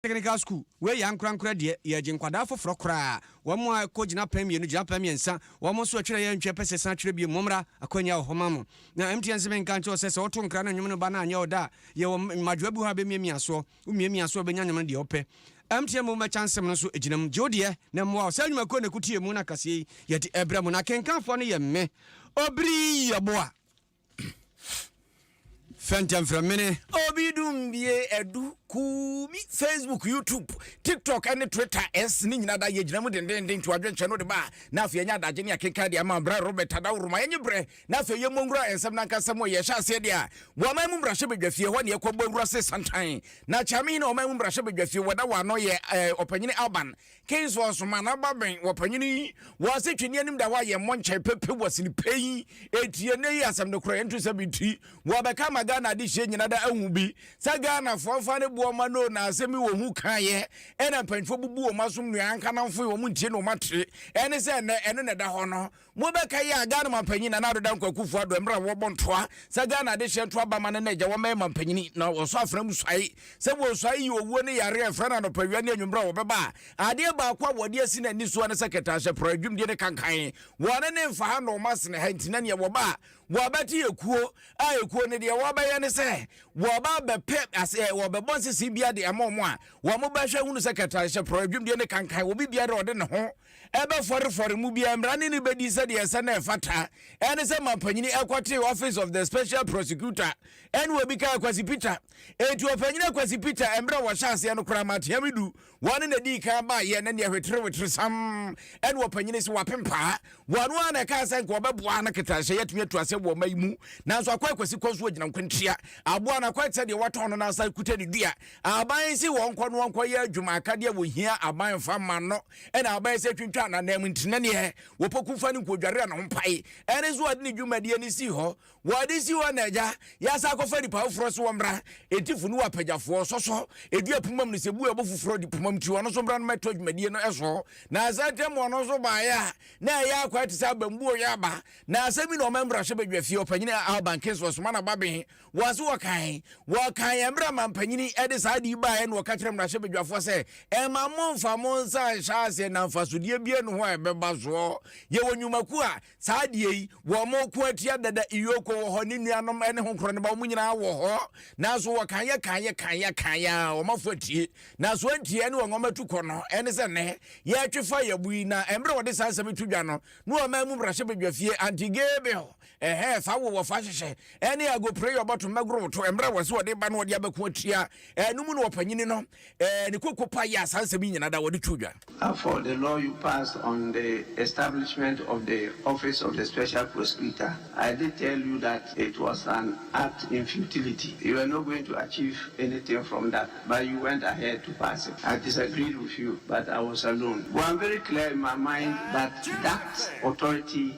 Technical School, wei yɛ ankorankora deɛ, yɛregye nkwadaa foforɔ koraa, wɔn a ɛkɔ gyinapɛn mmienu, gyinapɛn mmiɛnsa, wɔn nso ɛtwerɛ yɛ ntwerɛ pɛ sɛ san twerɛ bio, mommra, akwanya wɔ hɔ ma mo. Na MTN se menka nkyerɛ wo sɛ, sɛ woto nkra na nnwom no ba no anyɛ wo dɛ a, yɛwɔ mmadwoa bi hɔ a ɛbɛmiamia soɔ, womiamia so a wobɛnya nnwom no deɛ wopɛ. MTN mmom bɛkyɛ nsɛm no nso gyina mu, gye wo deɛ na ɛmmoa wo. Saa nnwumakuo na ɛkutie mu na kaseɛ yi yɛde ɛbrɛ mo, na akenkanfoɔ no yɛ me, Obiri Yeboah. Fɛntɛmfrɛmene. Obi dum bie ɛdu kuu bi Facebook YouTube TikTok ɛne Twitter ɛs ne nyina da yɛ gyina mu dendenden twa adwenkyɛ no de ba na afei ɛnyɛ adagye ne akenkan de ama brɛ Robert Adaworoma ɛnye brɛ na afei yɛ mmɔnwura ɛnsɛm na nkasɛm wɔ yɛ hyɛ aseɛ de a wɔman mu mbrahyɛ badwa fie hɔ ne ɛkɔ bɔ wura se santan na kyame hene ɔman mu mbrahyɛ badwa fie wɔda wɔ ano yɛ ɔpanyini Alban Kingsford soma na ɔbabɛn wɔ panyin yi wɔ ase twe ne anim da hɔ a yɛn mmɔnkyɛ pepe wɔ sini pɛ yi etie nnɛ yi asɛm no korɔ ɛnto sɛ bi ti wɔ bɛka ma Ghana adehyeɛ nyina da ahu bi sɛ Ghana foɔ mfa ne boɔ ma no na asɛm yi wɔ hu kaeɛ ɛna mpanyinfoɔ bubu wɔn asom nua anka namfoe wɔn ntie na wɔn ate ɛne sɛ nnɛ ɛno na ɛda hɔ no Mobɛkae a Ghana mampanyin Nana Addo Dankwa Akufo-Addo mmerɛ a wɔbɔ ntoa sɛ Ghana adehyeɛ nto aba ma no na agya wɔmmɛyɛ mampanyini na wɔsɔ afena mu suae sɛ wɔresuae yi owuo ne yareɛ a ɛfra no anɔpawia ne anwummerɛ a wɔbɛba a adeɛ baako a wɔde asi n'ani soɔ ne sɛ kɛtɛahyɛporɔ adwumdie ne kankan wɔne ne mfa ha na wɔn asene ha nti na neɛ wɔba a wɔabɛte yɛ kuo a ekuo no deɛ wɔbɛyɛ ne sɛ wɔba bɛpɛ asɛ wɔbɛbɔ nsese bia de ama wɔn a wɔn bɛhwɛ hunu sɛ kɛtɛahyɛporɔ adwumdie ne kankan wɔbi biara ɔde ne ho ɛbɛfɔrefɔre mu biara mmara ne no bɛdi sɛdeɛ ɛsɛ na ɛfata ɛne sɛ mampanyini ɛkɔtee office of the special prosecutor ɛne obi kaa Kwasi Peter enti ɔpanyini Kwasi Peter mmerɛ wɔhyɛ aseɛ no koraa matea me du wɔne na dii kan baayɛ na neɛ hweterewetere sam ɛne ɔpanyini sɛ wapempaa wɔno a na ɛkaa sɛ nka ɔbɛboa no ketanhyɛ yɛtumi atu asɛ wɔ ɔma yi mu nanso akɔ akwasi kɔ so agyina nkwantia aboa no akɔ sɛdeɛ wɔtɔn no n'asa kuta ne dua aban si wɔn kɔ no wɔn kɔ yɛ adwuma akadeɛ wɔhia aban fa ma no ɛna abɛyɛ sɛ twintwa ananam nti na neɛ wɔpɔku fa no nkɔdware a ne ho mpae ɛne nso wɔde ne dwumadie no sii hɔ wɔde si hɔ na agya yɛasa akɔfa nnipa foforɔ so wɔmmra ɛti fo ne wɔapagyafoɔ sɔsɔ ɛdua pumam no sɛ bu ɛbo foforɔ de pumam ti ɔno nso mmra no mɛtɔ dwumadie no ɛso na asɛ ntɛm ɔno nso baeɛ a na ɛyɛ akwa te sɛ abambuo yɛ aba na asɛ mi na ɔma mmarahyɛ badwafie ɔpanyini a albankin so ɔsoma na baben Wɔn so wɔkae. Wɔkaeɛ berɛ a manpanyin de saa ade yi baeɛ na ɔka kyerɛɛ mmarahyɛbadwafoɔ sɛ, Mma mommfa mo nsa nhyɛ aseɛ na mfasodeɛ biara nni ho a ɛbɛba soɔ. Yɛwɔ nnwumakuo a saa adeɛ yi, wɔko atia dada. Iyoko wɔ hɔ, ne nuanom ne ho korɔ no ba, wɔn nyinaa wɔ hɔ. Nanso wɔkaeɛ kaeɛ kaeɛ kaeɛ a wɔn afo atie. Nanso wɔantie. Ɛne wɔn wɔn atukɔ no ne sɛ nnɛ yɛretwe fa yɛn bo yi. Na mmerɛ a wɔde saa nsɛm yi to dwa no, na wɔn man mu mmarahyɛbadwafie Antigabel Ɛhɛɛ saa wo wɔfa hyehyɛ ɛne agopere yɛ ɔbɔto mmɛgoro woto mmerɛ wɔ se wɔde ba no wɔde abɛko atua ɛno mu no wɔpanyini no ɛɛ ne koko pa yɛ a saa nsɛm yi nyina da wɔde to dwa. Therefore, the law you passed on the establishment of the office of the special prosecutor, I did tell you that it was an act in futility. You were not going to achieve anything from that, but you went ahead to pass it. I disagreed with you, but I was alone. But I'm very clear in my mind that that authority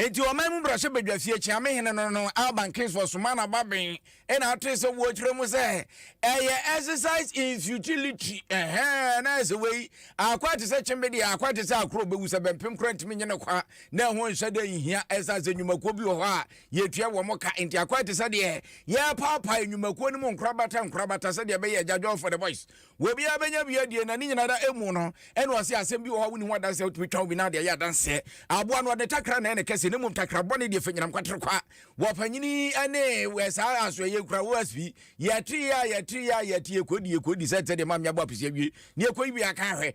Enti ɔman mu brasɛ badwa fie kyea me hene no no Alban Kingsford somaa n'ababin na ɔtee sɛ wɔ kyerɛ mu sɛ ɛyɛ exercise in futility ɛhɛ na ɛsɛ wei akwa te sɛ kyembe deɛ akwa te sɛ akorɔ bɛwu sɛ bɛmpem kora ntumi nye ne kwa na ɛho nhyɛ dɛ nhia ɛsan sɛ nnwumakuo bi wɔ hɔ a yɛtua wɔ mo ka nti akwa te sɛ deɛ yɛpaapae nnwumakuo no mu nkorabata nkorabata sɛdeɛ ɛbɛyɛ Jajol for the boys Wɔ obiara bɛnya bi adie na ne nyina da ɛmu no ɛna ɔse asɛm bi wɔ hɔ a wonni ho adanseɛ a wotumi twa obi na ade ayɛ adanseɛ aboa no ɔde takra na ɛna kɛseɛ na mmom takra bɔne deɛ fa nyinam kwatere kwa wɔ panyini ɛne wɔ saa asoɛ yɛ kura wɔ asbi yɛte yɛ a yɛte yɛ a yɛte yɛ kɔdi yɛ kɔdi sɛ ɛtɛ deɛ ma mmea bɔ apesi awie ne yɛ kɔyi bi aka ahwɛ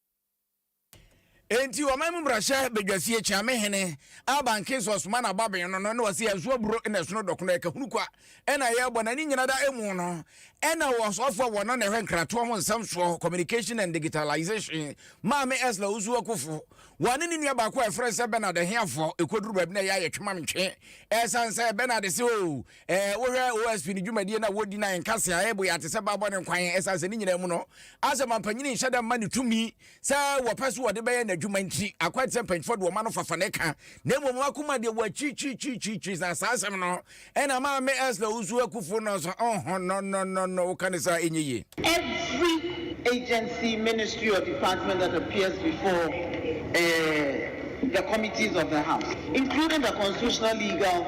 Enti ɔman mu mmarahyɛ badwasi akyia me hene Alban Kings ɔsoma n'ababɛn no no na ɔse ɛso aburo na ɛsono dɔkono ɛka hunu kwa ɛna ɛyɛ bɔ na ne nyina da ɛmu no ɛna ɔsɔfoɔ wɔ no na ɛhwɛ nkratoɔ ho nsɛm soɔ communication and digitalization maame Esla Osu Akufo wɔne ne nua baako a ɛfrɛ sɛ Bernard Ahiafoɔ ɛkɔduru baabi na ɛyɛ ayɛ twemamtwe ɛsan sɛ Bernard se o Eh, wohwɛ OSP no dwumadie no a wɔdi no a ɛnka se a ɛbo yɛ ate sɛ baabɔ ne nkwan ɛsan sɛ ne nyinaa mu no asɛ ma mpanyini nhyɛ da mma ne tumi sɛ wɔpɛ so wɔde bɛyɛ n'adwuma nti akɔ te sɛ mpanyinfoɔ de wɔma no fafa ne ka na mmom wakoma deɛ wɔakyirikyirikyirikyiri saa saa asɛm no ɛna maa me ɛsla wosu akufo no so ɔho no no no no woka ne saa ɛnyɛ yie Every agency, ministry, or department that appears before uh, the committees of the House, including the Constitutional, Legal,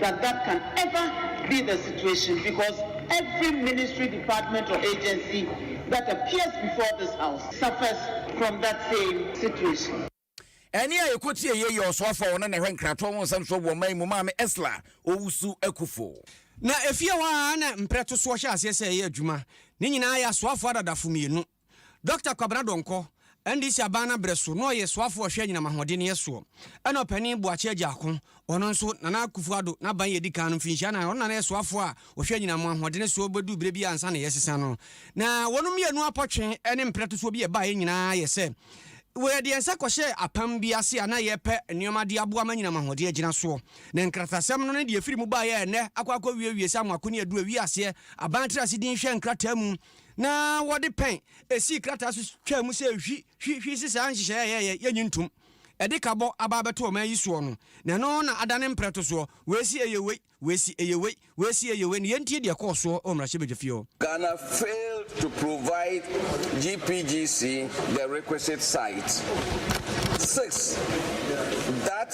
that that can ever be the situation because every ministry department or agency that appears before this house suffers from that same situation. Ɛnne a yɛkɔtie yei yɛ ɔsoafoɔ a ɔno na ɛhwɛ nkratoɔ ho nsɛm soɔ wɔ ɔman yi mu, Maame Estla Owusu Akufo. Na efie hɔ ara na mprɛtosoɔ hyɛ aseɛ sɛ ɛyɛ adwuma. Ne nyinaa yɛ asoafoɔ adadafo mmienu. Dɔkta Kwabena Donkor, NDC aban no abrɛ so, na ɔyɛ soafo a ɔhwɛ anyinam ahoɔdenneɛ soɔ, ɛna ɔpanin Boakye Agyaako, ɔno nso, Nana Akufo Addo n'aban a ɛdi kan no, mfinhyia nnan, ɔno na na yɛ soafoɔ a ɔhwɛ anyinam ahoɔdene soɔ bɛduu berɛ bi ansa na yɛsesa no. Na wɔn mmienu apɔtwe ne mpratosoɔ bi a ɛbaeɛ nyinaa yɛ sɛ wɔde nsa kɔhyɛɛ apam bi ase a na yɛrepɛ nneɛma de aboa ma anyinam ahoɔden agyina soɔ. Na nkratasɛm no ne deɛ ɛfiri mu baeɛ a ɛnnɛ akɔ akɔwiewie sɛ amoako ne aduru awie aseɛ aban tiri ase din hwɛ nkrataa mu, na wɔde pɛn esii krataa so twaa mu sɛ hwi hwi hwi se saa nhyehyɛe a yɛyɛ yɛnyi ntom ɛde kabɔ aba abɛto ɔman yi soɔ no na ɛno na adane mprɛto soɔ wei se ɛyɛ wei wei se ɛyɛ wei wei se ɛyɛ wei na yɛntie deɛ ɛkɔɔ soɔ wɔ mmarahyɛbadwafie hɔ. Ghana failed to provide GPGC the requisite site. Six, that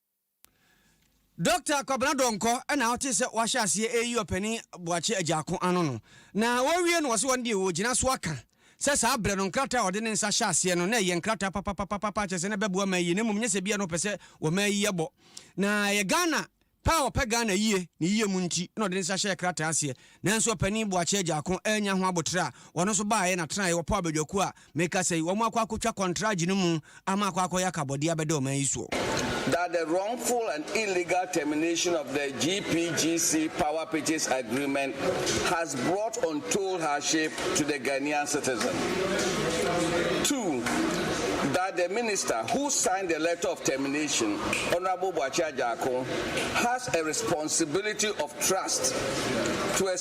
Dɔkta Kwabena Donkor na wɔte sɛ wɔahyɛ aseɛ ɛreyi ɔpanin Boakye Agyaako ano no. Na wɔwie no wɔse wɔn deɛ wɔgyina so aka sɛ saa berɛ no nkrataa a ɔde ne nsa hyɛ aseɛ no na ɛyɛ nkrataa papapapapa kyerɛ sɛ na ɛbɛboa man yie na mmom nyɛ sɛ bia na ɔpɛ sɛ wɔma ayi abɔ. Na ɛyɛ Ghana pɛ a ɔpɛ Ghana yie ne yie mu nti na ɔde ne nsa hyɛɛ krataa aseɛ. Nanso ɔpanin Boakye Agyaako annya ho aboterɛ a ɔno nso baeɛ na tenaeɛ wɔ Paw Badwakuo a Me kasa yi, wɔn akɔ akotwa kɔntrage no mu ama akɔ akɔyɛ akabɔdeɛ abɛda ɔman yi soɔ. That the wrongful and illegal termination of the GPGC power purchase agreement has brought untold hardship to the Ghanaian citizen. Two, That the minister who signed the letter of termination, Honourable Boakye Agyarko, has a responsibility of trust to a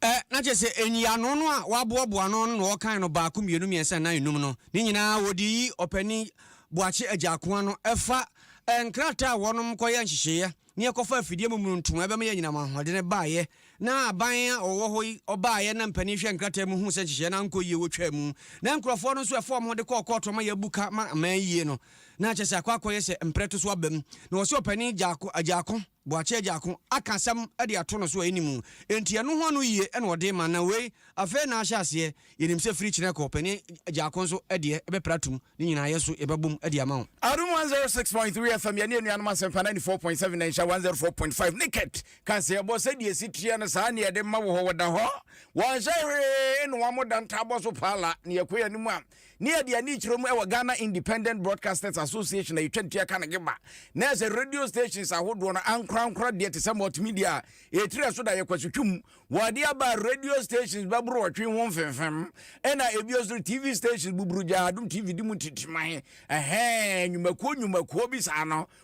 Ɛ, na kyerɛ sɛ nyiano no a wɔaboaboa ano ano na wɔkan no baako, mmienu, mmiɛnsa, nnan, nnum no, ne nyinaa wɔde yi Ɔpanin Boakye Agyaako ano. Ɛfa ɛ, nkrataa a wɔnom kɔyɛ nhyehyeeɛ ne ɛkɔfa afidie mu mmununtum a ɛbɛma yɛanyinam ahoɔdene baeɛ, na aban a ɔwɔ hɔ yi ɔbaeɛ na mpanin hwɛɛ nkrataa mu huu sɛ nhyehyeeɛ no ankɔ yie wɔtwaa mu, na nkurɔfoɔ no nso ɛfa wɔn de kɔɔ kɔɔto ama yɛabu ka ama aman ayie no, na kyerɛ sɛ akɔ akɔyɛ sɛ mprɛ to so aba mu, na wɔse Ɔpanin Agyaako, Agyaako. boakye agya ko aka asɛm de ato no so a ɛnni mu. Enti ɛno ho ano yie na ɔde rema. Na wei, afei na ahyɛ aseɛ. Yɛnim sɛ firi kyena kɔ panin agya ko nso deɛ, ɛbɛpra atom. Ne nyinaa yɛn nso yɛbɛbom de ama wo. Adom 106.3 FM, Yɛne Anuanom Asɛmpa 94.7 na Nhyira 104.5 Naked Kaseɛbɔ Sɛdeɛ ɛsi teɛ no saa na yɛde ma wo hɔ Wɔda hɔ, wɔnhyɛ hwee na wɔamoda ntaabɔ so paa la Na yɛkɔ yɛn anim a, Ne yɛde ani kyerɛ mu wɔ Ghana Independent Broadcasters Association a yɛtwa ntua ka no GIBA, na ɛsɛ radio stations ahodoɔ no ankorankora deɛ te sɛ multimedia a ɛtiri ɛso da yɛ kwasutwum. Wɔde aba radio stations bɛbrowɔtwe ho mfemfem ɛna ɛbio nso TV stations buburugyaa Adom TV di mu titiman, ɛhɛɛ, nnwumakuo nnwumakuo bi saa no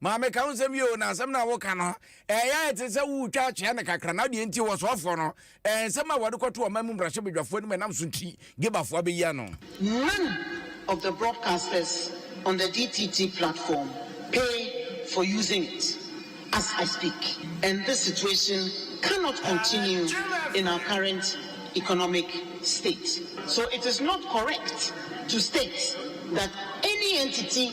Ma meka wo nsɛm yi o, na asɛm no a woka no, ɛyɛ ayɛ te sɛ woretwa akyea no kakra, na deɛ nti wɔsoɔfoɔ no, nsɛm a wɔde kɔto ɔman mu mmarahyɛbadwafoɔ anim ɛnam so nti, Gebafoɔ abɛyi ano. None of the broadcasters on the DTT platform pay for using it as I speak and this situation cannot continue in our current economic state so it is not correct to state that any entity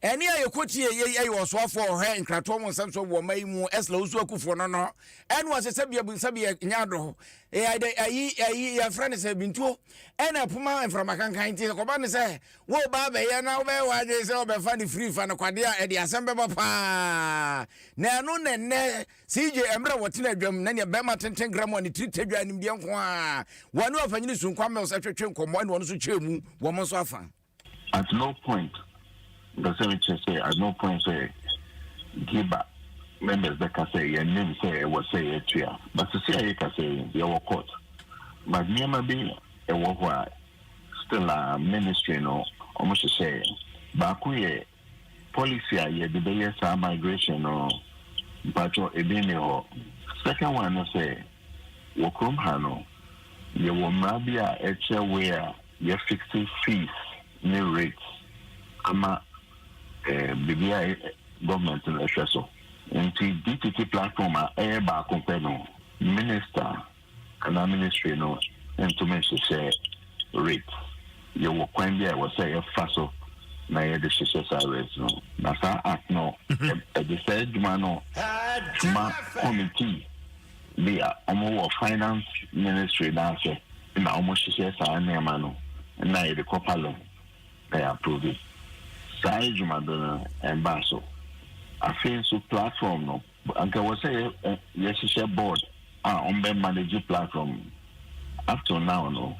Ɛnne a yɛkɔtie yei ɛyɛ ɔsoafoɔ ɔhwɛ nkratoɔ mu nsɛm so wɔ ɔma yi mu Esla Osu Akufoɔ no no ɛne ɔsɛ sɛ bia bu sɛ bia nyɛ adɔ ɛyɛ ayi ayi yɛfrɛ no sɛ bintuo ɛna ɛpoma mframa kankan nti kɔba no sɛ wo ba bɛyɛ na wobɛyɛ w'adwene sɛ ɔbɛfa no firi fa no kwadeɛ a ɛde asɛm bɛba paa na ɛno na ɛnɛ CJ mmerɛ wɔtena adwam na neɛ bɛrima tenten gra mu a ne tiri tadwa animdeɛ nko a wɔne ɔpanyini sunkwa mils ɛtwetwe nkɔmmɔ ɛne ɔno nso kyerɛ mu wɔn nso afa At no point, mpɛ sɛ mekyerɛ sɛ, at no point sɛ GIBA members bɛka sɛ yɛnnim sɛ ɛwɔ sɛ yɛtua. But sisi a yɛkasa yi, yɛwɔ court. But nneɛma bi wɔ hɔ a, still a ministry no wɔhyehyɛɛ. Baako yɛ. Policy a yɛde bɛyɛ saa migration no mpakyɛw ebi nni hɔ. Second one ne sɛ, wɔ kurom ha no yɛwɔ mmara bi a ɛkyerɛ way a yɛ fixe fees ne rates ama biribi a government no hwɛ so. Nti DTT platform a ɛyɛ baako pɛ no, minister Ɛna ministry no ntumi nhyehyɛ rates. Yɛwɔ kwan bi a ɛwɔ sɛ yɛfa so na yɛde hyehyɛ saa rates no. Na saa act no, mhm. ɛde saa adwuma no ma committee bi a wɔwɔ finance ministry n'asɛ na wɔhyehyɛ saa nneɛma no na yɛde kɔ parliament na yɛ approve. Saa adwuma do no ɛmba so. Afei nso platform no Anka ɛwɔ sɛ yɛhyehyɛ board a wɔn bɛ manage platform no. Up till now no,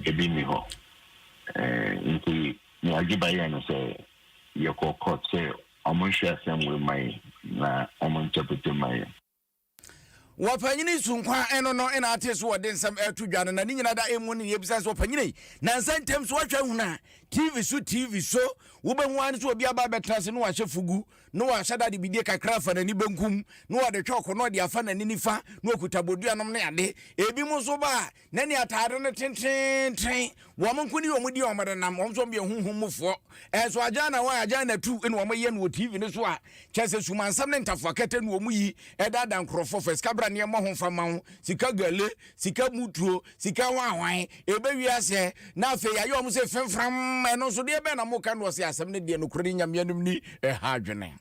ebi nni hɔ. Nti nea Agiba yɛe no sɛ yɛkɔɔ court sɛ wɔn nhwɛ asɛm wei mma yɛn na wɔn interpret mma yɛn. Wɔ Panyini Sunkwan ɛno no na ate so wɔde nsɛm ɛto dwa no na ne nyina da ɛmu no yɛbisa sɛ ɔpanyini nansa ntɛm so wahwɛ ahunu a TV so TV so wobɛhu ane sɛ obi aba abɛtena ase na wahyɛ fugu na wahyɛ da de bidie kakra afa n'ani benkum, na ɔde kyɔɔko na ɔde afa n'ani nifa, na ɔkuta bodua nom ne ade. Ebinom nso ba a, na ne ataade no tenteenten. Wɔn nko ne wɔn di wɔn denam, wɔn nso wɔyɛ honhom mufoɔ. Nso agyaana hɔ a, agyaana tu na wɔyɛ no wɔ TV no so a, kyerɛ sɛ sumansɛm ne ntafoakɛtɛ na wɔyi daadaa nkurɔfoɔ, fa sikabraneɛ mmɔ ho mfa mma wo, sika gele, sika mu tuo, sika hwanhwan, ɛbɛwie asɛ, na afei yɛayɛ wɔn sɛ fɛmfram, ɛno nso deɛ bɛn na moka no ɔse asɛm no deɛ nokorɛ ne Nyame anim ni, ɛha adwene.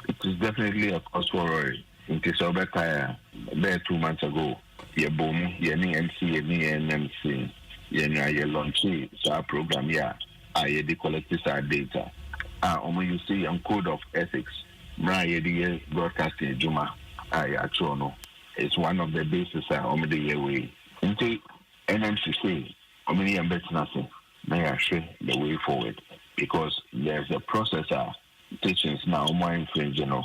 It is definitely a cause for worry, nti sɛ wobɛkae a, bɛyɛ two months ago yɛbɔɔ mu, yɛne MC yɛne yɛn NMC yɛnwaa yɛ launchee saa program yi a a yɛde collecte saa data a wɔn use yɛn code of ethics, mmara a yɛde yɛ broadcasting adwuma a yɛatwerɛ no. It's one of the bases a wɔn de yɛ wei. Nti NMC say wɔn ne yɛn bɛtena ase na yɛahwɛ the way forward because there's a process a teachings na wɔn infringe no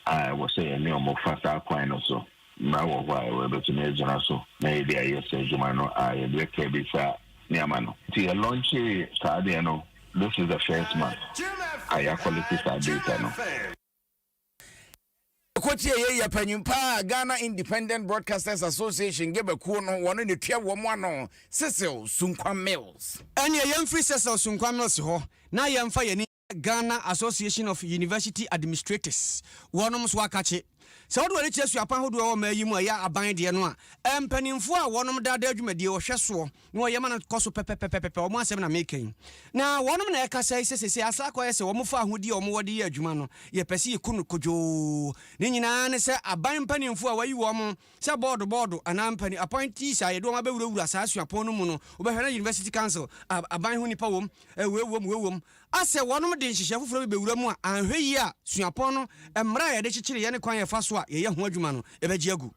a ɛwɔ sɛ yɛne wɔn fa saa kwan no so. Mmara wɔ hɔ a ɛwɔ ɛbɛtumi agyina so na yɛde ayɛ saa adwuma no a yɛde bɛka bi saa nneɛma no. Nti yɛ launche saa adeɛ no this is the first month a yɛakɔlɛte saa data no. Kotie yei yɛ panyin paa a Ghana Independent Broadcasters Association Geba kuo no wɔn na tua wɔn ano, Cecil Sunkwa Mills. Ɛneɛ yɛmfiri Cecil Sunkwa Mills hɔ na yɛmfa yɛn ani nkyerɛ Ghana Association of University Administrators, wɔnom nso akakye. Sɛ wode w'ani kyerɛ suapan hodoɔ a ɛwɔ mmaa yi mu a ɛyɛ aban deɛ no a, mpanimfoɔ a wɔnom daadaa dwumadie, ɔhwɛsoɔ, na ɔyam no kɔ so pɛpɛpɛpɛpɛ, wɔn asɛm na mereka yi. Na wɔnom na ɛkasa yi sɛ seesei asa akɔ ayɛ sɛ wɔfa ahodie a wɔwɔ de yɛ adwuma no, yɛpɛ sɛ yɛku no kodwoo. Ne nyinaa ne sɛ aban mpanimfoɔ a wɔayi wɔn sɛ bɔɔdo bɔɔdo anaa mpanin, appointees, a yɛde wɔn abɛwurawura saa suapɔn no mu no, wobɛhwɛ na University Council, aban ho nnipa wom, wei wom, wei wom, asɛ wɔnom de nhyehyɛɛ foforɔ bi bɛwura mu a, anhwɛ yie a suapɔn no mmara a yɛde kyekyereeɛ ne kwan a yɛfa so a yɛyɛ ho adwuma no, yɛbɛgye agu.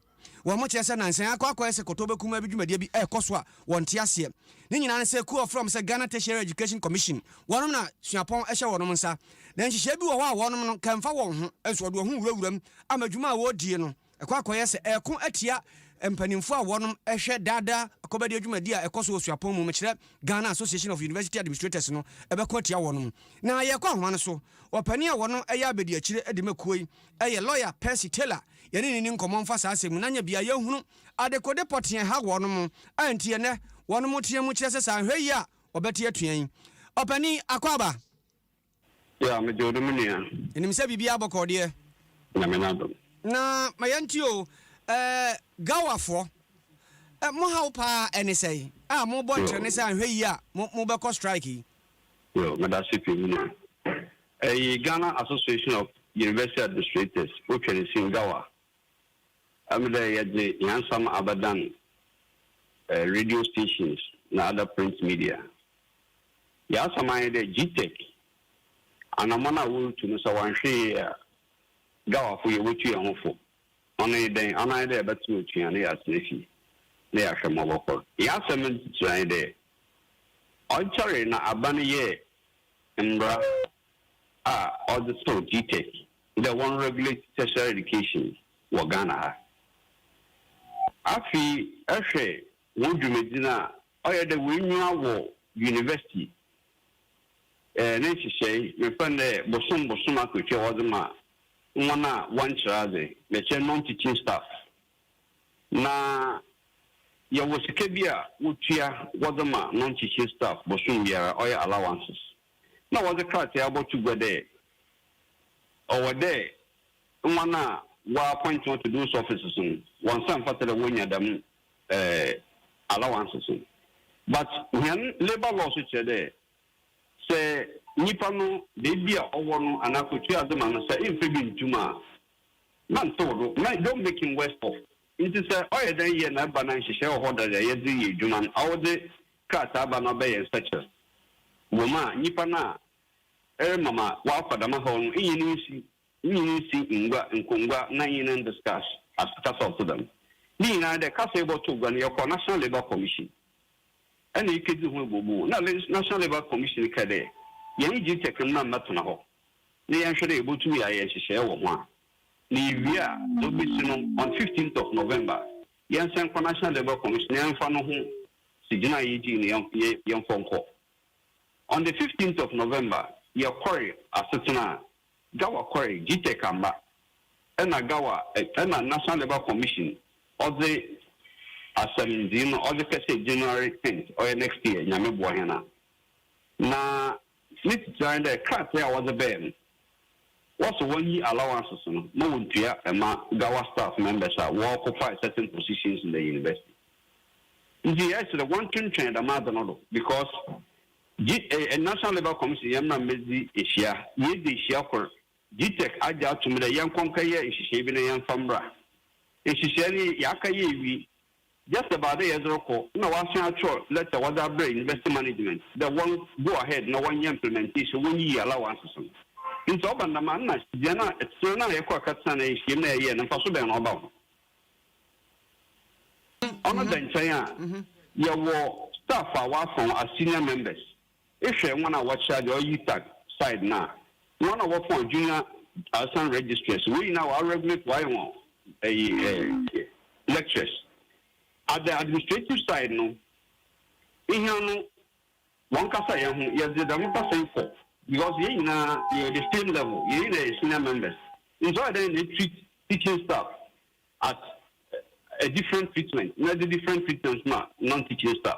Wɔkyerɛ sɛ nnansa yi akɔ akɔyɛ sɛ kɔtɔbɛ kumaa bi dwumadie bi rekɔ so a wɔnte aseɛ. Ne nyinaa ne sɛ kuo a wɔfrɛ wɔn sɛ Ghana Tertiary Education Commission, wɔnom na suapɔn hyɛ wɔnom nsa. Na nhyehyɛɛ bi wɔ hɔ a wɔnom no nka mfa wɔn ho, nso wɔde wɔn ho wurawura mu ama adwuma a wɔredie no kɔ akɔyɛ sɛ ɛreko atia mpaninfoɔ a wɔnom hwɛ daa daa akɔbɛdeɛ dwumadie a ɛkɔ so wɔ suapɔn mu, mekyerɛ Ghana Association of University Administrators no bɛko atia wɔnom. Na yɛrekɔ ahoma no so, ɔpanin a wɔnom yɛ abɛdiakyire de ma kuo yi yɛ Lawyer Percy Taylor. yɛne no nni nkɔmmɔ mfa saa asɛm mu na anya beaeɛ hunu adekode pɔtee a ɛha wɔnom a enti ɛnnɛ wɔnom teɛ mu kyerɛ sɛ saa nhwɛ yie a wɔbɛte atua yi. Ɔpanin Akwaaba. Yeah, megye wo dom nua. Menim sɛ biribiara bɔkɔɔ deɛ. Nyame no adom. Na ma yɛnte o, eh, Gawafoɔ, eh, mo haw paa ɛne sɛe a mobɔ ntrɛne sɛ anhwɛ yie a mo, mobɛkɔ strike yi? Yo, medase pii me nua. Ɛye Ghana Association of University Administrators wo Twɛresin Gawa ɛm dɛ yɛdze hɛn nsɛm abɛdan radio stations na other print media. Yɛ asɛm ara nye dɛ GTEC anamɔn a worutu no sɛ wɔannhwɛ yie a Gawafo yɛwotu yɛn ho fo. Ɔno nye dɛn? Ɔno ara nye dɛ yɛbɛtsen otua na yɛatsena fie na yɛahwɛ ma ɔbɔkɔr. Yɛ asɛm no ne tsitsir ara nye dɛ ɔnnkyɛree na aban yɛɛ mbra a ɔdze too GTEC dɛ wɔnregulate tertiary education wɔ Ghana ha. Afei hwɛ hɔn dwumadzi no a ɔyɛ dɛ woenwura wɔ university ne nhyehyɛe, mefrɛ no dɛ bosoom bosoom akatua a wɔdze ma hɔn a wɔnnkyerɛ adze, merekyerɛ non-teaching staff. Na yɛwɔ sika bi a wotua wɔdze ma no nkyekye staff bosoom biara, ɔyɛ allowances. Nna wɔdze krataa abɔto gua dɛ ɔwɔ dɛ hɔn a wɔappoint hɔn to those offices no wɔnsa mfata dɛ wonya dɛm allowances no. But hɛn labour law so kyerɛ dɛ sɛ nyimpa no beebi a ɔwɔ no anaa kotua adze ma no sɛ mmfa bi nntum a, na nntsew do, na don't make him worse off. Ntsi sɛ ɔyɛ dɛn yɛ na eba na nhyehyɛɛ wɔ hɔ dɛ yɛdze reyɛ edwuma no, ɔwodze krataa ba na ɔbɛyɛ nsɛkyerɛ wɔ mu a, nyimpa no a erema ma ɔakɔ dɛm haw no nye no nsi, nye no nsi ngua, nkongua na nye no ndiscuss asekasa a ɔtse dɛm. Ne nyina ara dɛ kasa a ebɔtow gua no, yɛkɔ National Labour Commission na ekedzi ho ebomumu, na National Labour Commission kaa dɛ, Yɛnye Gtec mmba mmbɛtsena hɔ. na yɛnhwɛ dɛ yebotum yɛayɛ nhyehyɛɛ wɔ ho a, na yewie a, dza obesi no on fifteenth of November, yɛnsan nkɔ National Labour Commission na yɛmfa no ho gyinae a yegyee no yɛn yɛmfɔ nkɔ. On the fifteenth of November, yɛkɔree asetsena a, GAWA kɔree, GTEC ammba, nna GAWA nna National Labour Commission ɔdze asɛmdzii no ɔdze kɛhyɛɛ January tenth, ɔyɛ next year, Nyame boa hɛn a. Na. Ne tsitsir ara nye dɛ krataa a wɔdze bae no, wɔsɔ hɔn yi allowances no ma wontua ma Gawa staff members a wɔoccupied certain positions in the university. Ntsi yɛreserɛ wɔntwentwɛn dɛm adze no do because G eh, National Labour Commission yɛn na medzi ehyia, yeedzi ehyia kor, GTEC agye ato mu dɛ yɛnkɔ nkɛyɛ nhyehyɛɛ bi na yɛmfa mbra. Nhyehyɛɛ no yɛakɛyɛ ewie. Just about dɛ yɛdze rokɔ nna wɔasan akyerɛw letter wɔdze abrɛ university management dɛ wɔn go ahead na wɔnyɛ implementation, wonyiyi allowances no. Ntsi ɔba no dɛm a nna hɛn a yɛtsenaa no a yɛkɔ akɛtsena no nhyiam no a yɛyɛɛ no mfaso bɛn na ɔba ho? Ɔno da nkyɛn a, yɛwɔ staff a wɔafa hɔn as senior members. Ehwɛ hɔn a wɔcharge ɔyɛ UTAG side no a, hɔn a wɔfɔn junior asan registrars, wei nyina wɔa regulate wɔayɛ hɔn ɛyi ɛɛ lectures. At the administrative side no, hɛn no wɔnkasa hɛn ho, yɛdze dɛm kasa yi kɔ because hɛn nyina yɛwɔ the same level, hɛn nyina yɛ senior members ntsi ɔyɛ dɛn na etreat teaching staff at a different treatment na edze different treatment ma non-teaching staff.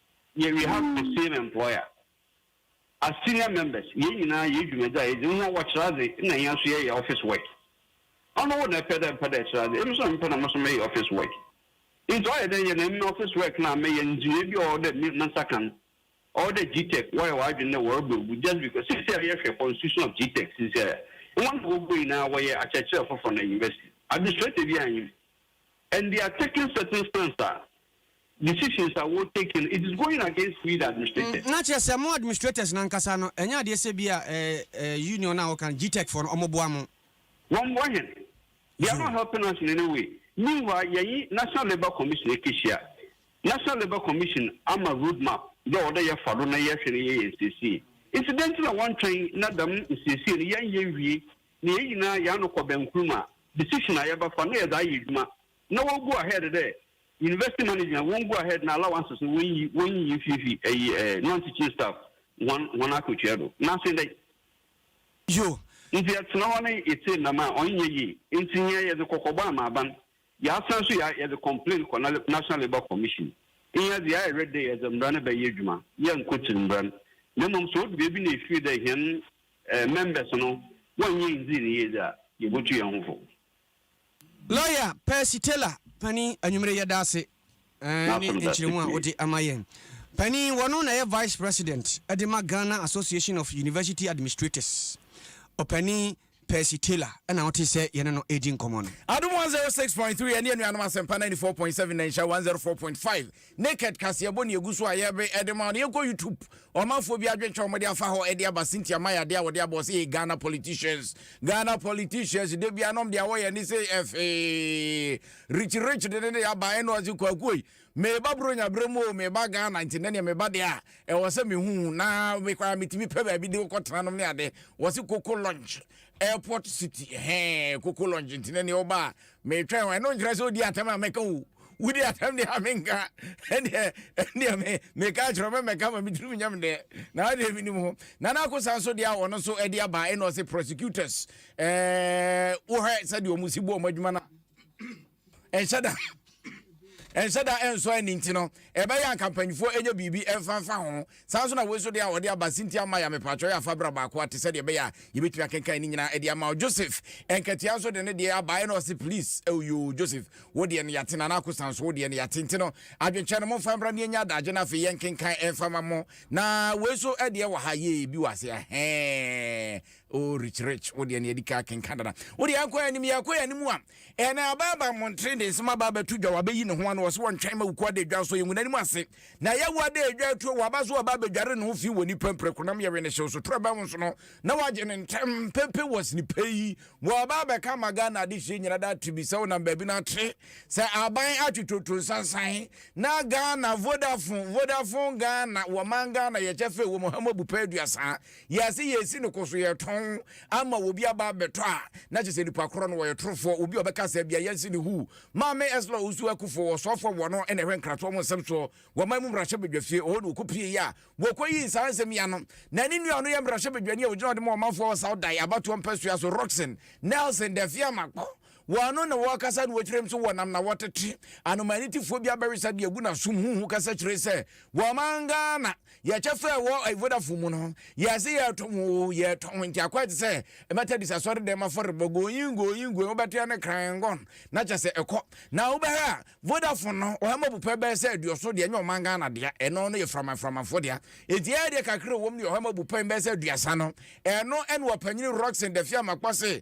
Yɛ we have the same employer as senior members yɛn nyinaa yɛ dwumadzi a yɛdze hɔn wɔ kyerɛ adze na hɛn so yɛyɛ office work ɔno wo na ɛpɛ dɛ mmpɛ dɛ ɛkyerɛ adze emi so na mepɛ na mo so meyɛ office work ntsi ɔyɛ dɛn yɛ na emi office work na meyɛ ndzeyɛɛ bi a ɔwɔ dɛ me nsa ka no ɔwɔ dɛ gtec wɔyɛ wɔ adwen dɛ wɔrobɔ egu just because sisiara yɛhwɛ constitution of gtec sisiara hɔn na wɔbɔ nyinaa wɔyɛ akyerɛkyerɛfo for na university administrator bi anyim and they are taking certain stance a. decisions a wɔ take no it is going against we the administrators. Na kyerɛ sɛ mo administrators no ankasa no ɛnyɛ adeɛ sɛ bi a union no a wɔka no GTEC foɔ no wɔn boa mo. Wɔn mmoa yɛn they are not helping us in any way meanwhile yɛnye national labour commission ɛkɛhyia national labour commission ama road map dɛ ɔwɔ dɛ yɛfa do na yɛhwɛ na yɛyɛ yɛn nsiesie nti dɛn nti na wɔn twɛn na dɛm nsiesie no yɛn yɛ nwie na yɛn nyinaa yɛn ano kɔ bɛn kurom a decision a yɛbɛfa na yɛdze ayɛ adwuma Na wɔn go ahead dɛ university management wɔn go ahead na allowances no wɔnyi wɔnyi mfifi ɛyi eh, non teaching staff wɔn wɔn akotua do. Na asen dɛn? Yo. Nti yɛtena hɔ ne yetsee nam a ɔnnyɛ yie. Nti hɛn yɛdze kɔkɔbɔ ama aban. Yɛasan so yɛ yɛdze complain kɔ na National Labour Commission. Hɛn dze yɛayɛ ready dɛ yɛdze mbra no bɛyɛ edwuma. Yɛnnkotsir mbra no. Na mbom sɛ odu beebi na efir dɛ hɛn eh members no wɔnnyɛ nndzii no yie dze a, yebotu hɛn ho fo. Lawyer Percy Taylor, Panin, anwummere yi yɛda ase ne nkyerɛmu a wode ama yɛn. Panin, wɔno na ɛyɛ Vice President de ma Ghana Association of University Administrators. Ɔpanin Percy Taylor na wote sɛ yɛne no redi nkɔmmɔ no. Adom 106.3 ɛne anuanom Asɛmpa 94.7 na nhyira 104.5 Naked kaseɛbɔ ne ɛgu so a yɛbe ɛde ma wo no yɛnkɔ YouTube ɔmanfoɔ bi adwenkyɛ ɔmo de afa hɔ ɛde aba Cynthia Maya de a wɔde aba ɔse hey Ghana politicians Ghana politicians da bia nom de awɔ yɛ ne se ɛfee Rich Rich de ne de aba ɛne ɔse kwakuoi meba bronya berɛ mu o meba Ghana nti nɛneɛ meba de a ɛwɔ sɛ mehu na mekɔ a metumi pɛ baabi de wokɔ tena nom ne ade wɔse Koko Lunch airport city hɛn Koko Lunch nti nɛneɛ ɔba a Metwɛn o, ɛno nkyerɛ sɛ odi atɛm a mɛka o, wodi atɛm deɛ a menka, ɛndeɛ ɛndeɛ me meka akyerɛ wo, mɛmmɛka ma me tirim nyɛ me dɛ, na adeɛ menim ho. Nana Akosa nso deɛ a ɔno nso ɛde aba ɛna ɔse prosecutors ɛɛɛ wohwɛ sɛdeɛ ɔmo si bu ɔmo adwuma no a, ɛnhyɛ da ɛnhyɛ da ɛnsɔ ani nti no ɛbɛyɛ a nka mpanyinfoɔ ɛnyɛ biribi ɛmfa mfa ho. Saa ara nso na wei nso deɛ a wɔde aba Cynthia Maya mepatwɔ yɛ fa bra baako a te sɛ deɛ ɛbɛyɛ a yɛbɛtumi akenkan ne nyinaa de ama wo. Joseph Nketia nso de ne deɛ aba ɛna ɔse please oh yoo Joseph wo deɛ no yɛate Nana Akosan nso wo deɛ no yɛate nti no adwenkyerɛ no momfa mbra na yɛnya adagye no afei yɛnkenkan ɛmfa ma mo na wei nso deɛ wɔ ha yee bi wɔ ase ahɛɛ oh Rich Rich wo deɛ no yɛadi ka akenkan dada wo deɛ yɛnkɔ yɛn anim yɛkɔ yɛn anim a Ɛnna aba aba mmɔntene de nsɛm aba abɛto dwa, wɔabɛyi ne ho ano, wɔse wɔntwɛn ma wuku ada adwa so, yɛngu n'anim ase, na yɛawu ada adwa atuo, wɔaba so wɔaba abɛdware ne ho fi wɔ nnipa mprako nam yɛwe ne hyew so toro abɛn ho so no, na wɔagye no ntɛm, pɛpɛ wɔ sene pɛ yi, wɔaba abɛka ama Ghana adehyeɛ nyina da ate bi sɛ wonam baabi no ate sɛ aban atwetwoto nsansan, na Ghana Vodafone, Vodafone Ghana, wɔman Ghana yɛ kyɛfa a ɛwɔ mu ha mu abu pɛ aduasa. Yɛse yɛsi no koso yɛtɔn ama obi aba abɛtɔ a na kyesɛ nipa korɔ no wɔyɛ torofoɔ obi a ɔbɛka saa bia yɛnse no huu. Maame Esla Owusu Akuffo wɔ Ɔsɔɔfoɔ wɔ no na ɛhwɛ Nkratoɔ mu nsɛm soɔ wɔ man mu mmarahyɛ badwa fie ɔhɔ na ɔkɔpie yɛ a wɔkɔ yii saa nsɛm yi ano na ne nua a ɔno yɛ mmarahyɛ badwani a ɔgyina ɔde ma ɔmanfoɔ wɔ South Dayi abatoɔ mpɛsoa so Rockson Nelson Daffy Amakpɔ Wɔno na wɔkasa no wɔkyerɛ mu so wɔnam na wɔtete anomanitifoɔ bi abɛwesa de agu n'asom huhu kasa kyerɛ sɛ wɔman Ghana yɛkyɛ fɛ wɔ Vodafone mu no yɛse yɛtɔn oo yɛtɔn nti akɔɛ te sɛ Methodist asɔredɛm afɔrebɔ going going going wobɛte ɛne krangon na kyɛ sɛ ɛkɔ na wobɛhwɛ a Vodafone no ɔhɛma bupɛ bɛyɛ sɛ aduɔso deɛ nyɛ ɔman Ghana deɛ ɛno no yɛ framaframafoɔ deɛ nti ɛyɛ deɛ kakra wɔm ne ɔhɛma bupɛ bɛyɛ sɛ aduasa no ɛno ɛne ɔpanyini Rockson Dafia Makpɔ se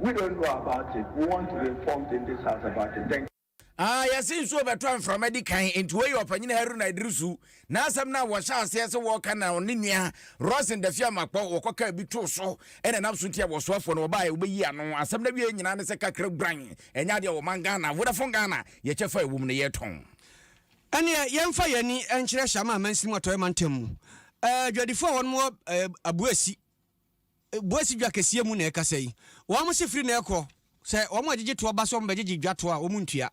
We don't know about it, we want to be informed in this house about it. Thank you. Ah, yɛse nsuo bɛtɔ a mframa di kan, enti wei yɛ Ɔpanyin Haruna Iddrisu n'asɛm no a wɔhyɛ aseɛ sɛ wɔreka na ɔne nua Rosen Daffy Amakpɔ wɔkɔkaa bi too so, ɛna ɛnam so nti a wɔsoafoɔ no wɔbaeɛ wɔbɛyi ano. Asɛm no awieɛ nyinaa ne sɛ kakra guran, ɛnyɛ adeɛ a wɔman Ghana, Vodafone Ghana, yɛ kyɛfa a ɛwɔ mu no yɛretɔn. Ɛnneɛ yɛmfa yɛn ani nkyerɛ Shama amansin mu Atɔeɛ mantam mu. Adwadifoɔ a wɔnom wɔ Abuasi, Boasi dwa kɛseɛ mu na ɛkasa yi. Wɔn se firi na ɛkɔ, sɛ wɔn a ɛgyegye toɔ ba sɛ wɔbɛgyegye dwa toɔ a, wɔn ntua.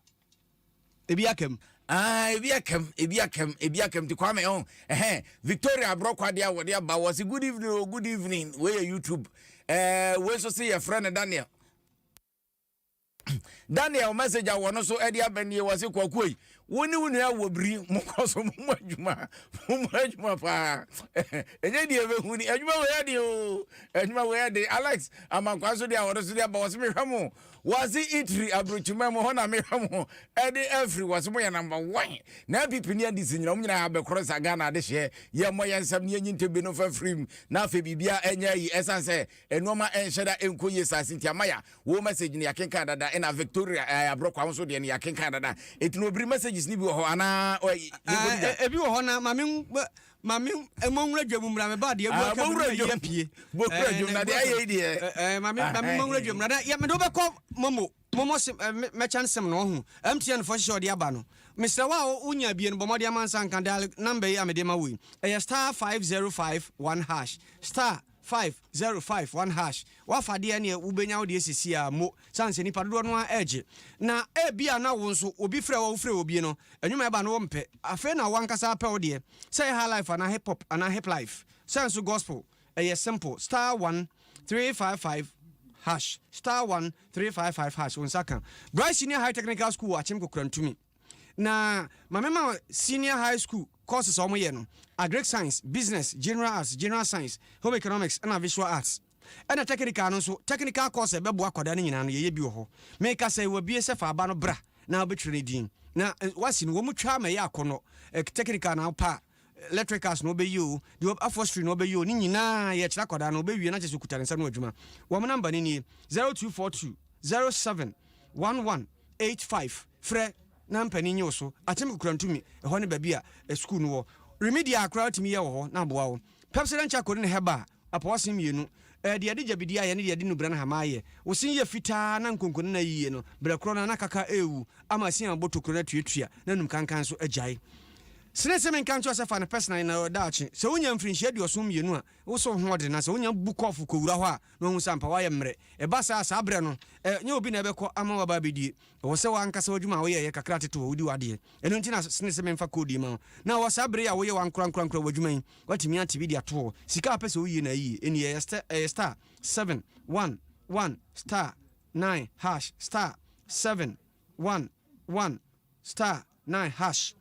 Ebi aka mu. Ah, ebi aka mu, ebi aka mu, ebi aka mu. Nti Kwame, oh, ɛhɛn, Victoria Aborɔkɔ adeɛ a wɔde aba, wɔse good evening o, good evening, wei yɛ YouTube. Ɛɛ, wei nso se yɛfrɛ no Daniel. Daniel message a wɔn so de aba nie wɔse kwakuo yi wo ne wo nua wɔ biri mo kɔ so mo mu adwuma mo mu adwuma paa ɛnyɛ deɛ ɛbɛhu ni adwuma wɔ yɛ de o adwuma wɔ yɛ de Alex amankwa nso deɛ a wɔn so de aba wɔse mehwɛ mo wɔse itiri aburokyima mu hɔ na mehwɛ mo ɛde afiri wɔse mo yɛ number one na apipi ne adi si nyina wɔn nyinaa abɛkorɔ sa Ghana adehyeɛ yɛ mmɔ yɛ nsɛm ne yɛnyi ntɛbi no fa firim na afei biribia ɛnyɛ ayi ɛsan sɛ Nnoɔma nhyɛ da nkɔ yie saa Cynthia Maya wo message no yɛakenkan dada ɛna Victoria eh, Abrɔkwa wo nso deɛ no yɛakenkan dada ɛti no ɔbiri messages no bi wɔ hɔ anaa yɛnkɔdi dwa ebi wɔ hɔ na ma me ma me mmɔnwura dwa mu mmra me ba deɛ abu aka bi na yɛ pie bɔkura dwom na deɛ ayɛ deɛ ma me ma me mmɔnwura dwa mu mmra na yɛ mede wobɛkɔ momo momo sem mɛkyɛn sem no ɔho MTN fo hyehyɛ ɔde aba no mesrɛ wo a wonya bie no bɔ mmɔden amansa nka dial number yi a mede ma wo yi ɛyɛ star 5051 hash star Five, zero, five, one hash, W'afa deɛ ɛneɛ wobɛnya wo deɛ sisi a mo sane sɛ nipa dodoɔ no ara ɛregye na ebia na wo nso obi frɛ wo a wo frɛ obi no nwuma ɛba no wo mpɛ afei na w'ankasa apɛ wo deɛ sɛ ɛyɛ highlife anaa hip pop anaa hiplife sɛ nso gospel ɛyɛ simple star one, three, five, five hash star one, three, five, five hash wo nsa ka Bright Senior High Technical School wɔ Akyem Kokorantumi. Na ma me ma senior high school courses a wɔyɛ no, agric science, business, general arts, general science, home economics ɛna visual arts. Ɛna technical no nso, technical course a ɛbɛboa akwadaa no nyinaa no yɛyɛ bi wɔ hɔ. Meka sɛ wɔabue sɛ fa aba no bra na wobɛtwerɛ ne din. Na wasi no wɔn twa ma ɛyɛ akɔnnɔ. Technical na wopɛ a, electricals na wobɛyɛ o, deɛ afɔstry na wobɛyɛ o, ne nyinaa yɛkyerɛ akwadaa no ɔbɛwie na kyerɛ sɛ ɔkuta ne nsa no adwuma. Wɔn number no nie, 0242 07 1185. Frɛ na mpanin nye wo so. Atsem kukura ntumi. Hɔ ne baabi a sukuu no wɔ. Remedial koraa wotumi yɛ wɔ hɔ na aboa wo. Pepsodent Charcoal ne Herbal apɔwɔsen mmienu. Ɛyɛ deɛ yɛde gyabidie ayɛ ne deɛ yɛde nnubra ne hama ayɛ. Wo se yɛ fitaa na nkonko nana yiye no, berɛ korɔ no ara na kaka rewu ama asin abobɔ tokuro no atuatua na anum kankan nso agyae. Sene se menka nkyerɛ wo sɛ fa no personally na daakye sɛ wonya mfirinhyia aduɔson mmienu a wo se wo ho ɔden na sɛ wonya bu kɔɔfo kɔwura hɔ a na wahu sɛ ampa woayɛ mmerɛ. Ɛba saa a, saa berɛ no, ɛnyɛ obi na ɛbɛkɔ ama waba abɛdie. Ɛwɔ sɛ w'ankasa w'adwuma a woyɛ yɛ kakra tete hɔ, wodi w'adeɛ. Ɛno nti na sene sɛ memfa code yi ma wo. Na wɔ saa bere yi a woyɛ w'ankorankorankora w'adwuma yi, woatumi ate bi de ato hɔ. Sika a wopɛ sɛ woyie no ayie. Ɛnni, ɛyɛ sta, ɛyɛ star, seven, one, one, star, nine, hash, star, seven, one, one, star, 9 hash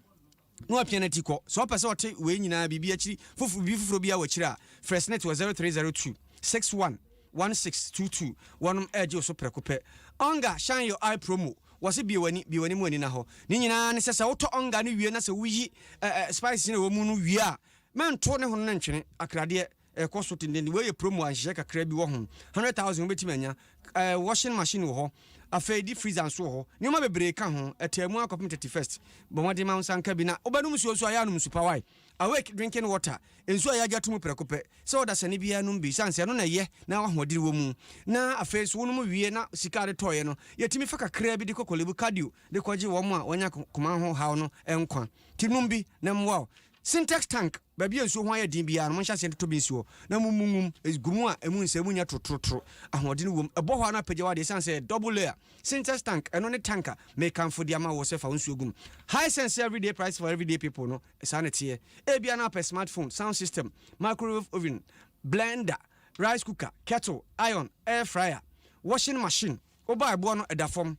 na wapia nati kɔ. Sɛ ɔpɛ sɛ ɔte wei nyinaa biribi akyiri foforo biribi foforo biara wɔ akyiri a, frɛ SNIT wɔ 0302 61 1622. Wɔnom regye wo so prɛko pɛ. Onga Shine Your Eye Promo, Wɔse bue w'ani, bue w'ani mu ani na hɔ. Ne nyinaa ne sɛ, sɛ wotɔ Onga no wie na sɛ woyi ɛɛ spices no a ɛwɔ mu no wie a, mɛnto ne hono no ntwene, akradeɛ. ɛkɔ so tenten. Wei yɛ promo a nhyehyɛe kakra bi wɔ ho. Hundred thousand wobɛtumi anya. Ɛɛ washing machine wɔ hɔ. Afei di freezer nso wɔ hɔ. Nneɛma bebree ka ho. Ɛtaa mu akɔpem thirty first. Bɔ mmɔden ma wo nsa nka bi. Na wobɛnom nsuo nso a, yɛ a nom nsu pa. Wai? Awake drinking water. Nsuo a yɛagye ato mu prɛko pɛ. Sɛ ɔdasani biara nom bi. Esiane sɛ ɛno na ɛyɛ na w'ahoɔdene wɔ mu. Na afei nso wonom wie na sika a wode tɔeɛ no, yɛtumi fa kakra bi de kɔ Korle Bu Cardio de kɔgye wɔn a wɔanya koma ho haw no nkwa. Nti nom bi na ɛmmoa wo. Sintex tank. Baabi a nsuo ho ayɛ den biara no, monhyɛ aseɛ ntotɔ bi nsi hɔ, na mommu ngu mu. Gu mu a emu nsɛ, emu nyɛ torotorotoro, ahoɔden wom. Ɛbɔ hɔ ara na apagya wo adeɛ. Ɛsiane sɛ ɛyɛ double layer sintex tank, ɛno ne tank a mekamfo de ama wo sɛ fa wo nsuo gu mu. Hisense everyday price for everyday people no, saa na ɛteɛ. Ebia na wopɛ smart phone, sound system, microwave oven, blender, rice cooker, kettle, iron, air fryer, washing machine, Wobaa ɛboɔ no ɛda fam.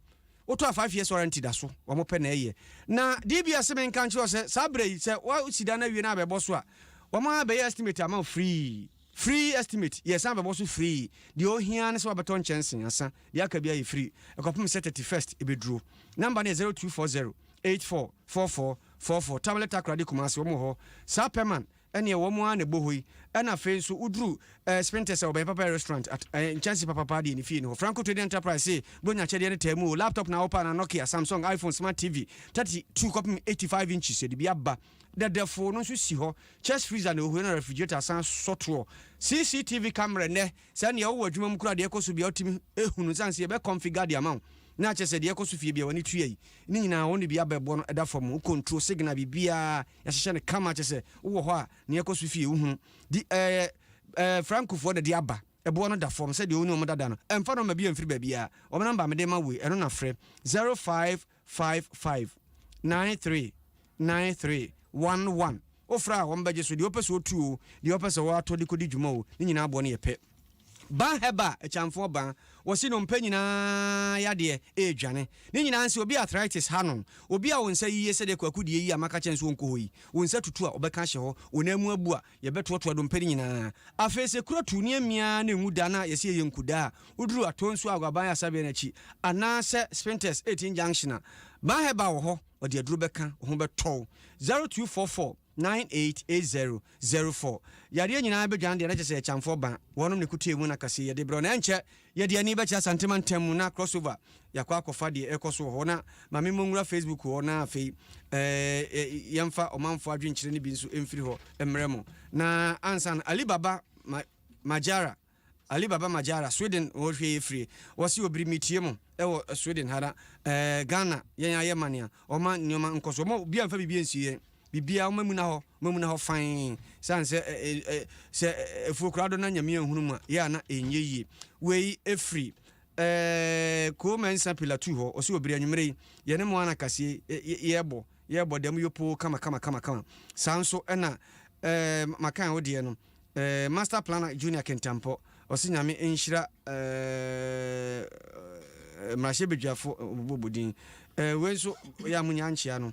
Wotɔɔ five years warranty da so. Wɔn pɛ na ɛyɛ. Na DBS se me nka nkyerɛ wo sɛ saa berɛ yi sɛ wosi dan no awie na abɛbɔ so a, wɔn a bɛyɛ estimate ama wo free. Free estimate, yɛsan abɛbɔ so free. Deɛ ohia ne sɛ wabɛtɔ nkyɛnse ansa. Deɛ aka biara yɛ free. Ɛkɔpem sɛ thirty first ɛbɛduro. Number no yɛ zero two four zero eight four four four four four. Tablet Takoradi Kumasi, wɔn wɔ hɔ. Saa pɛ man. Ɛneɛ wɔn ara na ɛbɔhɔ yi. Ɛna afei nso woduru eh, Spintex a ɔbɛyɛ papa restaurant at eh, nkyɛnse papapaa deɛ ne fie ne hɔ. Franco Trading Enterprise se bro nya akyɛdeɛ no taa mu o, laptop na wopɛ anaa Nokia, Samsung, iPhone, Smart TV 32 kɔpem 85 inches yɛde bi aba dɛdɛfoo no nso si hɔ, chest freezer na ohue na refrigerator asan sɔ toɔ, CCTV camera nnɛ Sɛ nea ɔwɔ adwuma mu koraa deɛ ɛkɔ so biara wotumi hu no ɛsiane sɛ yɛbɛ configure de ama wo na akyerɛ sɛ deɛ ɛkɔ so fie biara w'ani tua yi ne nyinaa wo ne bi abɛ bɔ no ɛda fam wo control signal biribiara yɛahyehyɛ no kama kyerɛ sɛ wowɔ hɔ a nea ɛkɔ so fie wohunu di ɛɛ ɛɛ Franco foɔ na ɛde aba ɛboɔ no da fam sɛdeɛ wo ne wɔn dada no ɛmfa nɔma bi ɛmfiri baabiara wɔn number a mede rema wo yi ɛno na frɛ zero five five five nine three nine three one one wofrɛ a wɔbɛgye so deɛ wopɛ sɛ wotu o deɛ wopɛ sɛ woatɔ de kɔdi dwuma o ne nyinaa boɔ no yɛ pɛ Ban Herbal Akyamfoɔ Ban wɔse nnompe nyinaa yadeɛ ɛredwane ne nyinaa nse obi a arthritis ha no obi a wo nsa yiye sɛdeɛ Kwaku deɛ yi a maka kyɛn sɛ ɔnkɔ hɔ yi wo nsa tutu a ɔbɛka ahyɛ hɔ wo nan mu abu a Yɛbɛtoatoa dompe no nyinaa. Afei sɛ kura tu ne amia ara na enwu da no a, yɛse ɛyɛ nkuda a woduru Atonsuo Aguaban Asabea no akyi anaa sɛ Spintex 18 Junction a. Ban Herbal wɔ hɔ, ɔde aduro bɛka, wo ho bɛtɔ wo. 0244 9880 04. Yareɛ nyinaa bɛdwane deɛ na kyerɛ sɛ ɛyɛ Kyamfoɔ ban. Wɔnom na ɛkuta emu na kaseɛ yɛde brɛ wo na ɛnkyɛ Yɛde yɛn ani bɛkyerɛ Asante mantam mu na Crossover yɛakɔ akɔfa deɛ ɛrekɔ so wɔ hɔ na ma me mmɔ nwura Facebook hɔ na afei eh, yɛmfa ɔmanfoɔ adwenkyerɛ no bi nso mfiri hɔ mmerɛ mo. Na ansa no Ali Baba ma, Majara Ali Baba Majara, Sweden wɔ hwɛ yɛ firie. Wɔse wɔ biri metie mo ɛwɔ Sweden ha na eh, Ghana yɛn ayɛ mane a wɔma nneɛma nkɔ so. Wɔma obi amfa biribi ansie yɛn. Biribiara, wɔn amuna hɔ, wɔn amuna hɔ fann. Esiane sɛ ɛ, ɛ, ɛ, sɛ afuo koraa do na Nyame anhunu mu a, yɛ a na ɛnyɛ yie. Wei firi, ɛ, Koo Mensah Pilatuu hɔ. Ɔse, Wɔ bere anwummere yi, yɛne mo ara na kaseɛ yi, ɛ, ɛ, yɛrebɔ, yɛrebɔ dɛm yopoo kama, kama, kama, kama. Saa nso na, ɛ, Makan wo deɛ no, ɛ, Master Planner Junior Kentampɔ, ɔse Nyame nhyira, ɛ, ɛ, Mmarahyɛbadwafo, ɛ, wɔbobɔ din. Ɛ, wei nso, yɛ a monya ankyea no,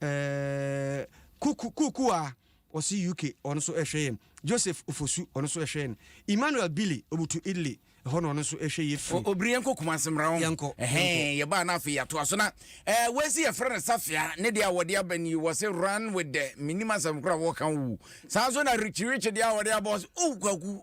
Ɛɛɛ Kuku Kukuwa ɔse UK ɔno nso ɛhwɛ yɛn. Joseph Ofosu ɔno nso ɛhwɛ yɛn. Emmanuel Billy ɔbutu Italy ɛhɔ na ɔno nso ɛhwɛ yɛ firi. Obiri yɛnkɔ Kumasi mmra ho. Yɛnkɔ. Yɛnkɔ. Ɛhɛn yɛbaa na afei yɛatoa so na ɛɛ wei si yɛfrɛ no Safia ne deɛ a wɔde aba ni wɔse run with the menim asɛm kora wɔka wu. Saa nso na Richie Richie deɛ a wɔde aba wɔse oh kwaku.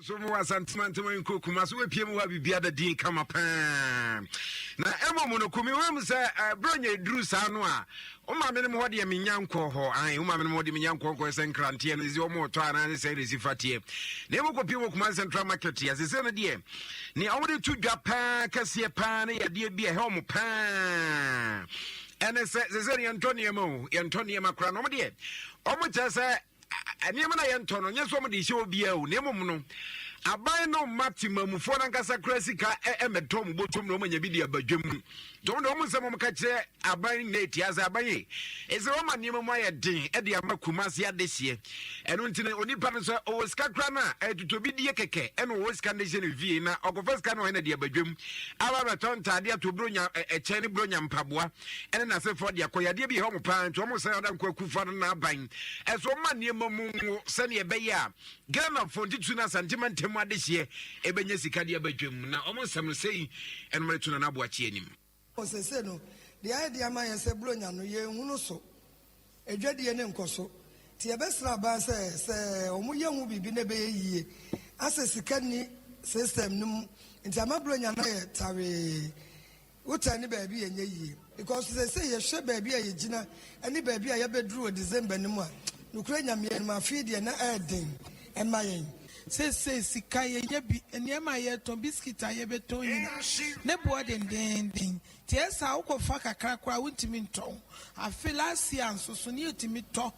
nso mu wɔ asantema ntama nkuro kuma so wapie mu hɔ a biribia da din kama paa na mmom no kumi hɔ mu sɛ eh, berɛ nya ɛduru saa no a woma menom hɔ deɛ menya nkɔ hɔ ae woma menom hɔ deɛ menya nkɔ nkɔ sɛ nkranteɛ no ɛsi ɔma ɔtɔ anaa ne sɛ ne si fateɛ na ɛmu kɔpie wɔ kuma central market yɛ sɛ sɛ no deɛ ne ɔmode to dwa paa kɛseɛ paa ne yadeɛ bi a ɛhɛ ɔmo paa ɛne sɛ sɛ sɛ yɛntɔ nneɛma o yɛntɔ nneɛma koraa na ɔmo deɛ ɔmo kyerɛ sɛ Nneɛma no a yɛntɔ no, nyɛ sɛ wɔde rehyɛ obiara o, na mmom no, aban no mma temamufoɔ no ankasa kora sika mmɛtɔ wɔn bɔtɔm na wɔanya bi de aba dwam mu. Nti wɔn de wɔn nsɛm wɔn ka kyerɛ aban nyinaa etia sɛ aban yi, ɛsɛ wɔma nneɛma mu ayɛ den de ama Kumasi adehyeɛ. Ɛno nti no, onipa no sɛ ɔwɔ sika kora no a, ɛtotɔbi die kɛkɛ ɛna ɔwɔ sika de hyɛ ne fie na ɔkɔfa sika no ɔyɛ na de aba dwam. Aba bɛtɔ ntaadeɛ, atɔ buronya ɛkyɛn ne buronya mpaboa. ɛne n'asefoɔ de akɔ yadeɛ bi hɛ wɔn paa nti wɔn sɛ ada nkɔ akufa no n'aban ɛso wɔn ma nneɛma mu nwo sɛnea ɛbɛyɛ a ghanafoɔ ntutu no asantema ntam adehyeɛ ɛbɛnya sika de aba dwam na wɔn nsɛm no sɛi ɛnom de to na n'aboakye anim ɔsese no deɛ ayɛ de ama yɛn sɛ buronya no yɛnhunu so adwadie ne nkɔso nti yɛbɛsrɛ aban sɛ sɛ wɔyɛ ho biribi na ɛbɛyɛ yie asɛ sika ni system no mu nti ama buronya no ayɛ tawee Wo tan ne baabi yɛ nyɛ yie because seesei yɛhwɛ baabi a yɛgyina ne baabi a yɛbɛduru wɔ December no mu a, nokorɛ Nyame anim afei deɛ na ɛyɛ den ma yɛn. Seesei sika yɛnya bi, nneɛma a yɛretɔn, biscuit a yɛbɛtɔn nyina ne boɔ dendeenden nti ɛyɛ saa a wokɔfa kakra koraa a wontumi ntɔn. Afe last year nso so ne yɛtumi tɔ.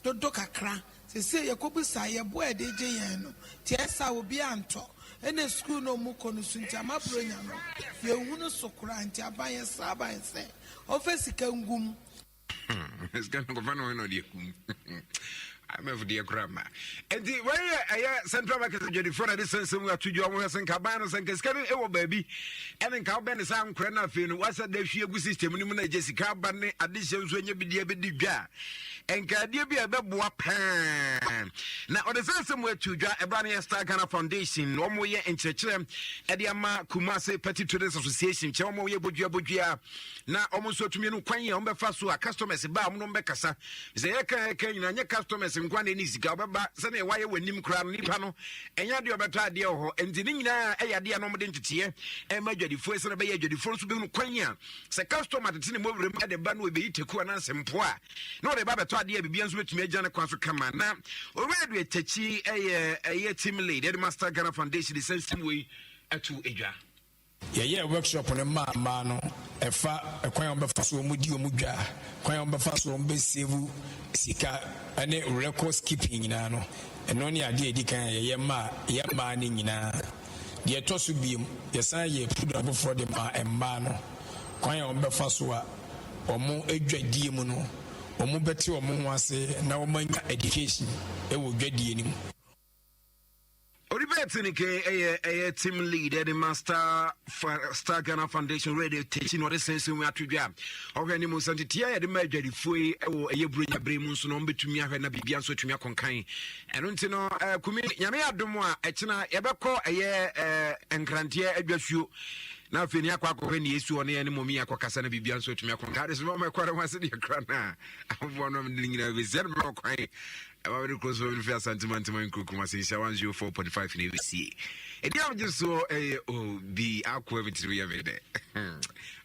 dodo kakra sesei yɛkɔbisaa yɛboa a yɛde gye yɛn no nti ayɛ saa obi antɔ ɛna sukuu no ɔmo kɔ no su nti ama bronya no yɛnhu no so koraa nti aban yɛsrɛ aban sɛ ɔmfa sika ngu mu. Hmm, sika no kɔfa no hɔ na ɔde akum IMF deɛ koraa ma nti wei yɛ ɛyɛ central market adwadifoɔ na de sɛnsɛm ato dwa wɔn sɛ nka ban no sɛ nka sika no wɔ baabi ɛne nka wobɛ ne saa nkorɛ no afei no wasɛ da hwie gu system no mu na agye sika aba ne adehyɛ nso ɛnyɛ bideɛ bɛdi dwa a nkaadeɛ bi a ɛbɛboa paa na ɔde sɛ sɛ mu atu dwa ɛberɛ no yɛ star ghana foundation na wɔyɛ nkyerɛkyerɛ de ama kumase petty traders association kyerɛ wɔn yɛ bodua bodua na wɔn nso atumi no kwan a wɔbɛfa so a customers ba a wɔn nom bɛkasa sɛ yɛka yɛka nyina nyɛ customers nkwa na ɛne sika wɔbɛba sɛdeɛ wɔayɛ wɔn anim koraa no nipa no ɛnyɛ adeɛ ɔbɛtɔ adeɛ wɔ hɔ nti ne nyinaa ɛyɛ adeɛ a na wɔde nteteɛ ɛma adwadifoɔ sɛ na ɛbɛyɛ adwadifoɔ nso bɛhunu kwan a Sɛ customer tete ne mɔwura mu de ba no ebeyi teku anaasɛ mpoa a, na ɔde ba bɛtɔ adeɛ a biribiara nso betumi agya ne kwan so kama. Na Owura Edward Takyi yɛ ɛyɛ team lead ɛde Master Ghana Foundation de saa nsɛm wei ato edwa. Yɛyɛɛ workshop no maa mmaa no, ɛfa kwan a wɔbɛfa so wɔn di wɔn dwa, kwan a wɔbɛfa so wɔn bɛ save sika ɛne records keeping nyinaa no, ɛno ne adeɛ a edi kan a yɛyɛ maa yɛn mmaa no nyinaa. Deɛ ɛtɔ so biom, yɛsan yɛɛ pudra foforɔ de maa mmaa no. Kwan a wɔbɛfa so a wɔn dwadie mu no, wɔn bɛte wɔn ho ase na wɔn anya education wɔ dwadie no mu. Odibert Nike yɛ ɛyɛ team lead ɛde ma Star Star Ghana Foundation Radio Techi na ɔde sɛnsɛn mu ato dwa. Ɔhwɛ ne mu nsɛntete a yɛde ma adwadifoɔ yi wɔ ɛyɛ Buronya bere mu nso na wɔn bɛtumi ahwɛ na biribi nso atumi akɔnkan. ɛno nti no eh, kumi nyame yɛ adom a ɛkyena yɛbɛkɔ ɛyɛ eh, nkranteɛ adwasuo na afei ne akɔ akɔhwɛ ne yɛsi hɔ ne yɛne mɔmi akɔkasa no biribia nso atumi akɔ nka de so mama ɛkɔre ho ase deɛ kora no a aboa no mede nyinaa bɛsia no mmerɛ ɔkwan ɛma mede kuro so mede fi asantemantema nkurukum ase nhyɛ 104.5 na ɛbɛsie ɛdi a megye soɔ ɛyɛ obi akoa me tiri yɛ me dɛ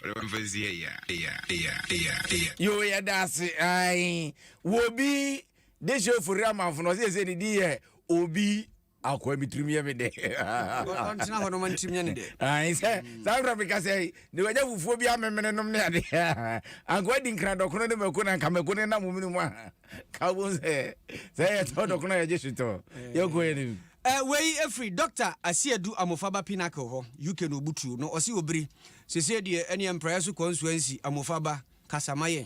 ɔde mamfa nsi ɛyɛ ɛyɛ ɛyɛ ɛyɛ ɛyɛ yo yɛda ase ai wɔbi De hyɛ ofori amanfo no ɔsɛ yɛsɛ ne din yɛ obi akoa mi tirim yɛ me dɛ ɔntena hɔ no ma ntirim yɛ ne dɛ ayi sɛ saa nkura mi kasa yi ne wagya fufuo bi amemene nom ne ade ankoa di nkira dɔkono ne mako na nka mako ne nam mu no mu a ka bo sɛ sɛ yɛ tɔ dɔkono yɛ gye sotɔ yɛ kɔ yɛ ne mu. Eh, wei ɛfiri Dr. Asiedu Amofaba Pinnacle hɔ, UK na ɔbutuo no ɔse obiri. Sesei deɛ ɛneɛ mpraeɛ so kɔnsuansi Amofaba kasa ma yɛn.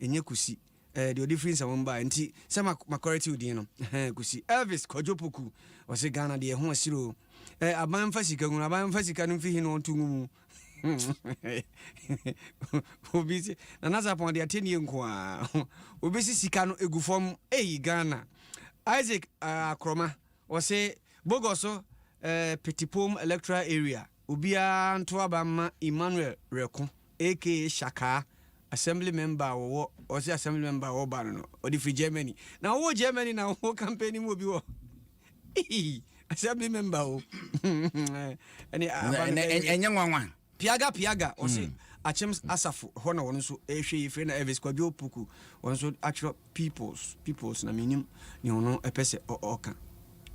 Ɛnyɛ Kusi. Ɛɛ deɛ ɔde firi nsawam baeɛ nti sɛ ma makɔrɛte wo din no. Ɛhɛn Kusi. Elvis Kwadwo Poku. Ɔse Ghana deɛ ɛho asiri o. Ɛɛ aban mfa sika ngu no, aban mfa sika no mfi he na ɔnto ngu mu. Obi se Nana Sarpong deɛ atennie nko ara. Obi se sika no egu fam. Ei Ghana. Isaac Akroma. Ɔse Bogoso ɛɛ Petipom electoral area. Obiara nto aba mma Emmanuel Reko aka Shakaa, Assembly member a wɔwɔ, ɔse Assembly member a ɔwɔ ba no no, ɔde firi Germany. Na wowɔ Germany na wo campaign mu obi wɔ Eii! Assembly member o! Ɛne a aba no bɛyɛ dɛ. Ɛnyɛ nwanwa. Piaga Piaga ɔse Akyem Asafo hɔ na wɔn nso rehwɛ yi, Frena Elvis Kwadwo Opoku wɔn nso atwerɛ. Peoples peoples na menim ne ɔno ɛpɛ sɛ ɔka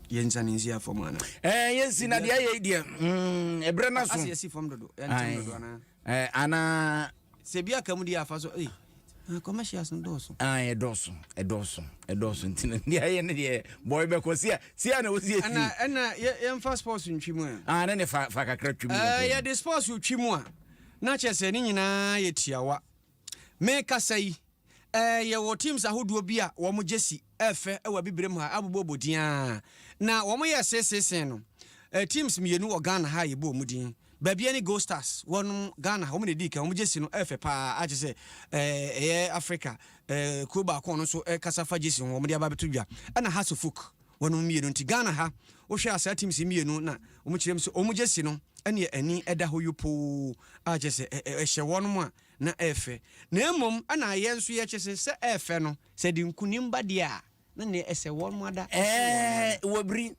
yɛnsa ne nsi afam ana ɛɛ eh, yɛnsi na deɛ ɛyɛ deɛ mm, ɛbrɛ no so ase yɛsi fam dodo ɛntɛm dodo ana ɛɛ ana sɛ bi aka mu deɛ afa so ɛɛ eh, ah, commercials no dɔɔso ah ɛdɔɔso ɛdɔɔso ɛdɔɔso nti no deɛ ɛyɛ ne deɛ bɔɔl bɛkɔ sia sia na wɔsi esi ɛna ɛna yɛmfa sports ntwi mu a ah ne ne fa fa kakra twi mu ɛɛ eh, yɛde sports twi mu a na kyɛ sɛ ne nyinaa yɛ tiawa Merekasa yi, eh, yɛwɔ teams ahodoɔ bi a wɔn gyesi yɛ fɛ wɔ Abibirem ha, abobɔbɔ din ara. Na wɔn yɛ seesei sen no, eh, teams mmienu wɔ Ghana ha a yɛbɔ wɔn din. Baabia ne Gold Stars, wɔn Ghana ha, wɔn na ɛdii kan, wɔn gyesi no yɛ fɛ paa a kyerɛ sɛ, eh, ɛyɛ Africa, eh, kuro baako a wɔn nso kasa fa gyesi ho, wɔn de aba abɛto dwa. Ɛna Hearts of Oak, wɔn mmienu. Nti Ghana ha, wohwɛ a saa teams mmienu na wɔn kyerɛ mu sɛ wɔn gyesi no ɛne ani ɛda hɔ yopoo a kyerɛ sɛ, eh, ɛhyɛ wɔn a na ɛyɛ fɛ, na mmom na yɛn nso yɛkyɛ sɛ sɛ ɛyɛ fɛ no, sɛ ɛde nkunim ba deɛ a, na nea ɛsɛ wɔn mo ada, ɛsen wɔn mo ada. Ɛɛ, wɔ biri.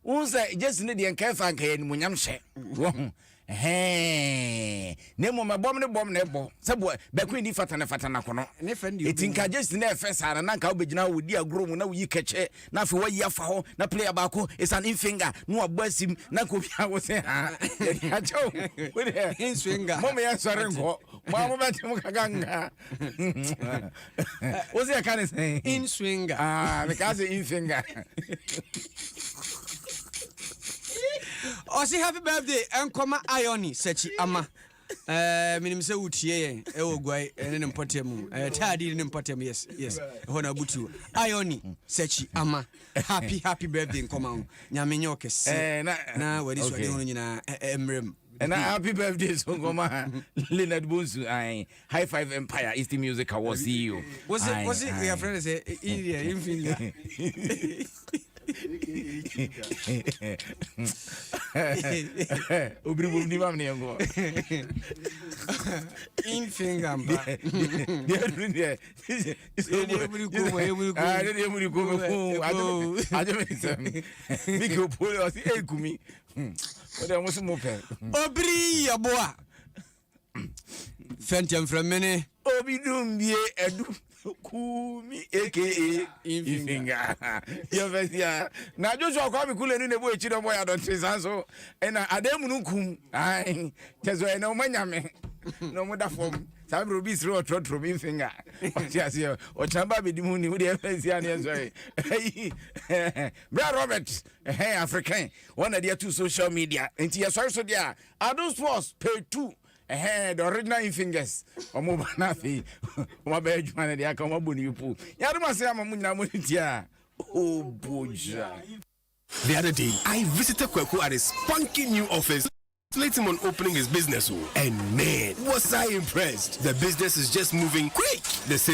Wohu sɛ gyesi no deɛ nka ɛfa nka ɛyɛ animuonyam hyɛ, wahu, ɛhɛɛɛɛ, na mmom ɛbɔm ne bɔm na ɛbɔ, sɛ bɔ, bɛko nni fata ne fata na kono. Ne fɛ no deɛ Eti nka ɔbɛwuo. gyesi no ɛyɛ fɛ saa no, na nka wobɛgyina hɔ, wodi agorɔ mu na woyi kɛkyɛ, na afei wayi afa hɔ na player baako is an infinger na wabɔ asim na nka obi awo sɛ ha yɛde akyɛw wo deɛ infinger mo mo yɛ nsɔre nkɔ mo a mo bɛ te mo kaka nka wo sɛ yɛka ne sɛn infinger ah meka sɛ infinger ɔse happy birthday ɛnkɔma ioni sɛkyi ama Eh, menim sɛ wotie yɛn ɛwɔ eh, guai eh, ne ne mpɔtam mu eh, taadi ne ne mpɔtam yes yes ɛhɔ na abutuo ayɔni mm. sɛkyi ama happy happy birthday nkɔma ho nyame nyɛ ɔkɛseɛ na wade suade ho no nyinaa mmerɛ mu ɛna happy birthday so nkɔma leonard bonsu ae high five empire east music award ceo wosɛ yɛfrɛ no sɛ india infinity obiri bom ni mam ne yɛnkɔ infinga mpa deɛ duru deɛ ɛdeɛ muri ko me ko agye me nsɛm mike opole ɔse ɛkumi wode ɔmo so mo pɛ obiri yɛboa fɛntɛmfrɛmene. Obi dum bie ɛdu kuumi aka ifinga yɛfɛsia na Joshua Kwame Kule ne nebo ekyi dɔbɔ ya dɔnte saa so ɛna adan mu no nkum ae kyɛsɛ ɛna ɔma nyame na ɔmo da fam saa bere obi sere ɔtrɔtrɔ mi finger ɔte aseɛ ɔkyena ba abɛdi mu ni wode ɛfɛsia ne ɛsɔre ɛyi bra Robert ɛhɛn african wɔn na de ato social media nti yɛsɔre so deɛ a Adom sports page two ɛhɛn the original in fingers ɔmo ba na afei ɔmo abɛyɛ adwuma no deɛ aka ɔmo abɔ ne yupo yɛade mo ase ama mo nyinaa mo ne tia obogya. The other day, I visited Kweku at his spunky new office. Late him on opening his business, oh, and man, was I impressed! The business is just moving quick. The sales.